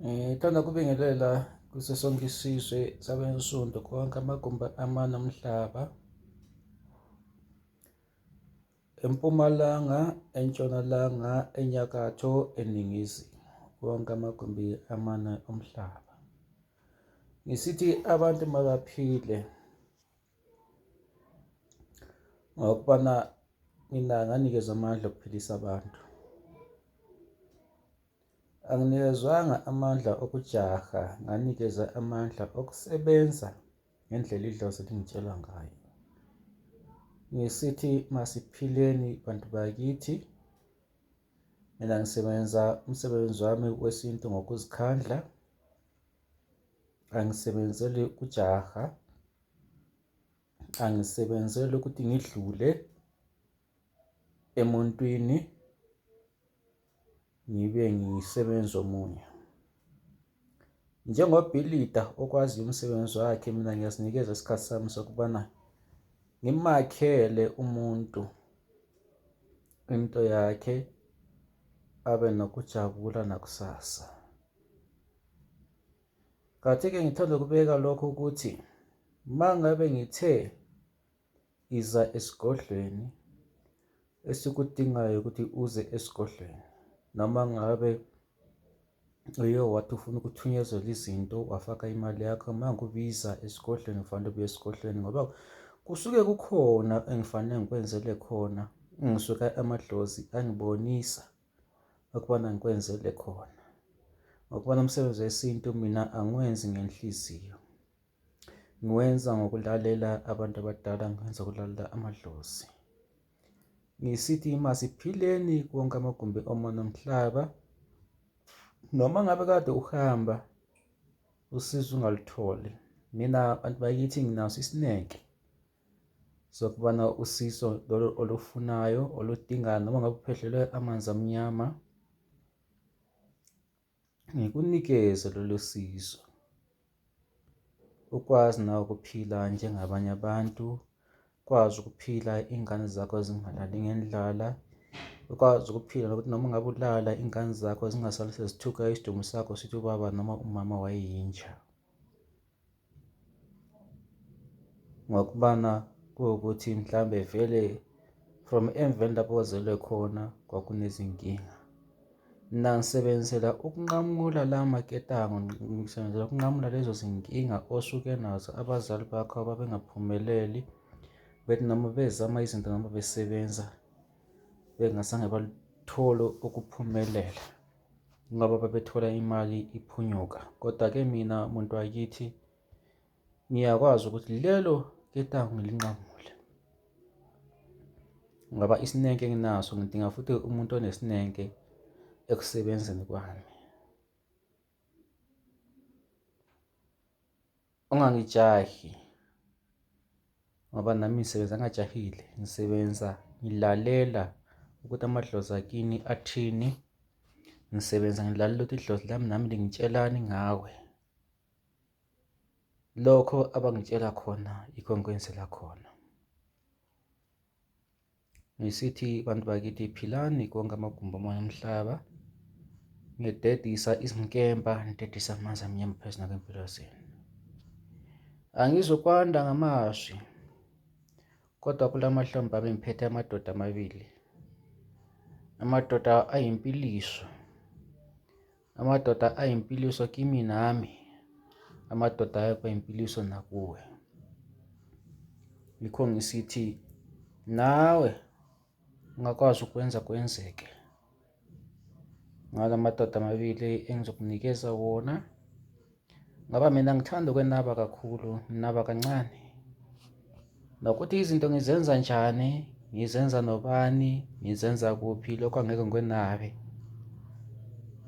Ngithanda eh, kubingelela kuso sonke isizwe sabensundu konke amagumbi amane omhlaba empumalanga entshonalanga enyakatho eningizimu wonke amagumbi amane omhlaba ngisithi abantu mabaphile ngokubana mina nganikezwa amandla okuphilisa abantu anginikezwanga amandla okujaha nganikezwa amandla okusebenza ngendlela idlozi lingitshela ngayo ngisithi masiphileni bantu bakithi mina ngisebenza umsebenzi wami wesintu ngokuzikhandla angisebenzeli kujaha angisebenzele ukuthi ngidlule emuntwini ngibe ngisebenza omunye. Njengobhilida okwaziyo umsebenzi wakhe mina ngiyazinikeza isikhathi sami sokubana ngimakhele umuntu into yakhe abe nokujabula nakusasa. Kathi-ke ngithanda ukubeka lokho ukuthi uma ngabe ngithe iza esigodlweni esikudingayo ukuthi uze esigodlweni noma ngabe uye wathi ufuna ukuthunyezela izinto wafaka imali yakho uma ngikubiza esigodlweni ufanele ubuye esigodlweni ngoba kusuke kukhona engifanele ngikwenzele khona ngisuke amadlozi angibonisa ukubana ngikwenzele khona ngokubana umsebenzi wesintu mina angiwenzi ngenhliziyo ngiwenza ngokulalela abantu abadala ngiwenza ukulalela amadlozi ngisithi masiphileni konke amagumbi omona omhlaba noma ngabe kade uhamba usizo ungalitholi mina abantu bakithi nginaso isineke zokubana usizo lolu olufunayo oludingayo noma ngabe uphehlelwe amanzi amnyama ngikunikeze lolu sizo ukwazi nawe ukuphila njengabanye abantu ukwazi ukuphila iy'ngane zakho zingalali ngendlala ukwazi ukuphila nokuthi noma ngabe ulala iy'ngane zakho zingasali sezithuka isidumbu sakho sithi ubaba noma umama wayeyinja Ngokubana kuwukuthi mhlawumbe vele from emveni lapho ozelwe khona kwakunezinkinga. Mna ngisebenzisela ukunqamula la maketango, ngisebenzela ukunqamula lezo zinkinga osuke nazo abazali bakho ababengaphumeleli, bethi noma bezama izinto noma besebenza bengazange baluthole ukuphumelela. ngoba babethola imali iphunyuka. Kodwa-ke mina muntu wakithi ngiyakwazi ukuthi lelo ketango ngilinqamule ngoba isineke nginaso ngidinga futhi umuntu onesineke ekusebenzeni kwami. Ungangijahi ngoba nami ngisebenza ngajahile, ngisebenza ngilalela ukuthi amadlozi akini athini, ngisebenza ngilalela ukuthi idlozi lami nami lingitshelani ngawe. Lokho abangitshela khona yikho engikwenzela khona. Ngisithi bantu bakithi philani konke amagumbi omoya omhlaba. Ngidedisa izinkemba, ngidedisa amanzi amnyama phezu nakwempilo zenu. Angizukwanda ngamazwi kodwa kula mahlombe ami ngiphethe amadoda amabili. Amadoda ayimpiliso. Amadoda ayimpiliso kimi nami, amadoda ayekho impiliso nakuwe. Yikho ngisithi nawe ungakwazi ukwenza kwenzeke ngala madoda amabili engizokunikeza wona. Ngoba mina ngithanda ukwenaba kakhulu, nginaba kancane. Nokuthi izinto ngizenza njani, ngizenza nobani, ngizenza kuphi, lokho angeke ngikwenabe.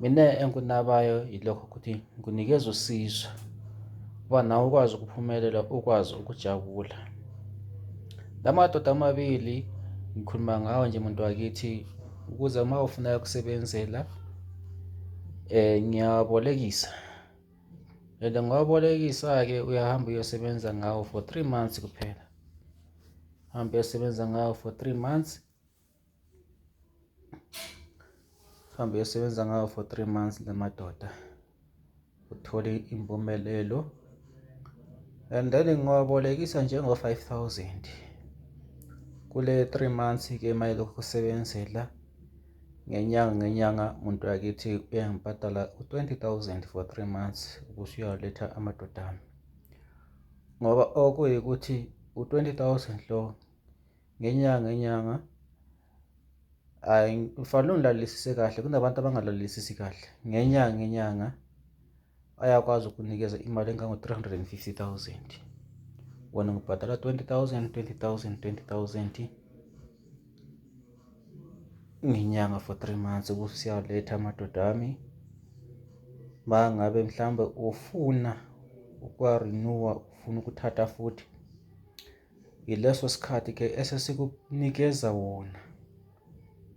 Mina engikunabayo yilokho ukuthi ngikunikeza usizo uba nawe ukwazi ukuphumelela, ukwazi ukujabula. La madoda amabili ngikhuluma ngawo nje muntu wakithi ukuze uma ufuna ukusebenzela eh ngiyabolekisa and ngobolekisa-ke uyahamba uyosebenza ngawo for three months kuphela hamba uyosebenza ngawo for three months hamba uyosebenza ngawo for three months le madoda uthole impumelelo and then ngiwabolekisa njengo-five thousand kule three months ke mayelokhu kusebenzela ngenyanga ngenyanga umuntu wakithi uyangibhadala u-twenty thousand for three months ukuthi uyawaletha amadoda ami ngoba okuyikuthi u-twenty thousand lo ngenyanga ngenyanga Hhayi ngifanele ngilalelisise kahle kunabantu abangalalelisisi kahle. Ngenyanga ngenyanga ayakwazi ukunikeza imali engango-three hundred and fifty thousand. Wena ngibhadala twenty thousand, twenty thousand, twenty thousand ngenyanga for three months ukuthi siyaletha amadoda ami. Uma ngabe mhlawumbe ufuna ukwa-renew-a, ufuna ukuthatha futhi yileso sikhathi ke esesikunikeza wona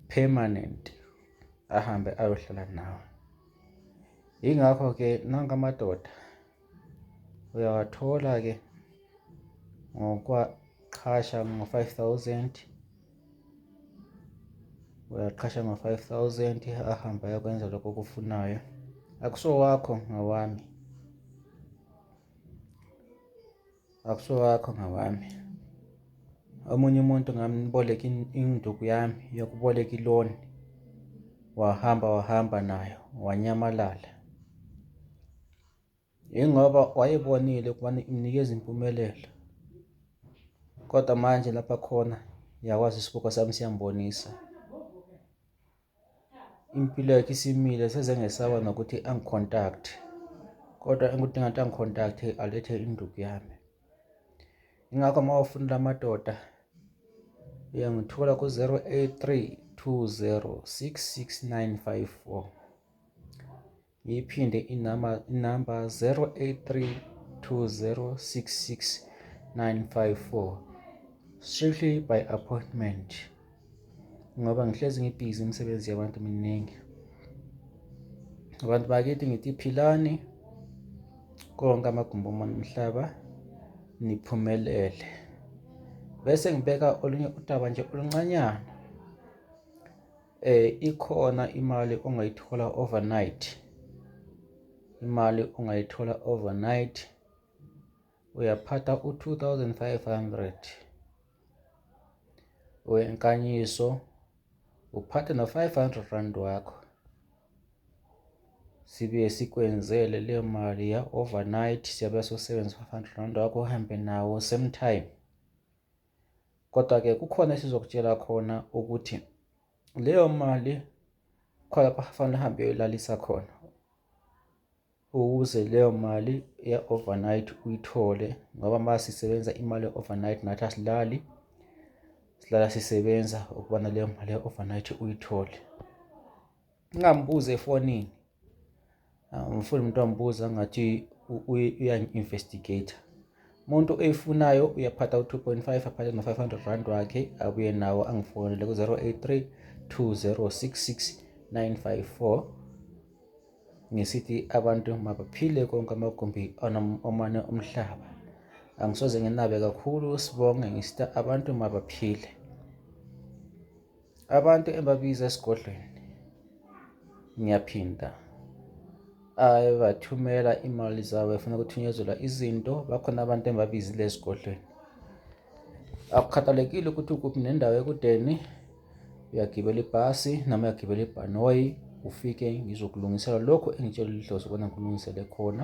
permanent ahambe ayohlala nawe ingakho ke nanka amadoda uyawathola ke ngokwaqhasha ngo-5000 uyaqhasha ngo-5000 ahamba ayokwenza lokho okufunayo akusowakho ngawami Akusowakho ngawami. Omunye umuntu ngamboleka induku yami yokuboleka iloni, wahamba wahamba nayo wanyamalala. Yingoba wayebonile ukubana imnikeza impumelelo, kodwa manje lapha khona yakwazi isibuko sami siyambonisa. impilo yakhe isimile sezengesaba nokuthi angicontact kodwa engikudinga ukuthi angicontact alethe induku yami ingakho uma ufuna la madoda uyangithola ku-083 20 66954 Ngiyiphinde inamba inamba 0832066954 strictly by appointment ngoba ngihlezi ngibhizi imisebenzi yabantu miningi abantu bakithi ngithi philani konke amagumbi omhlaba niphumelele bese ngibeka olunye udaba nje oluncanyana Eh ikhona imali ongayithola overnight imali ongayithola overnight uyaphatha u-2500 wenkanyiso uphathe no-500 rand wakho sibuye sikwenzele le mali ya-overnight siyabe sosebenzisa u-500 rand wakho uhambe nawo same time Kodwa-ke kukhona esizokutshela khona ukuthi leyo mali khona lapho kufanele uhambe uyolalisa khona ukuze leyo mali ye-overnight uyithole ngoba uma sisebenza imali ye-overnight nathi asilali silala sisebenza ukubana leyo mali ye-overnight uyithole. Ngingambuza efonini. Angifuni umuntu ambuza ngathi uyangi-investigator. Umuntu oyifunayo uyaphatha u-2.5 aphathe no-500 rand wakhe abuye nawo angifonele ku-083 2066 954 ngisithi abantu mabaphile konke amagumbi omane omhlaba angisoze nginabe kakhulu sibonge ngisita abantu mabaphile Abantu engibabiza esigodlweni ngiyaphinda abathumela imali zabo efuna ukuthunyezela izinto bakhona abantu engibabizile esigodlweni akukhathalekile ukuthi ukuphi nendawo ekudeni uyagibela ibhasi noma uyagibela ibhanoyi ufike ngizokulungisela lokho engitshela idlozi ukona ngikulungisele khona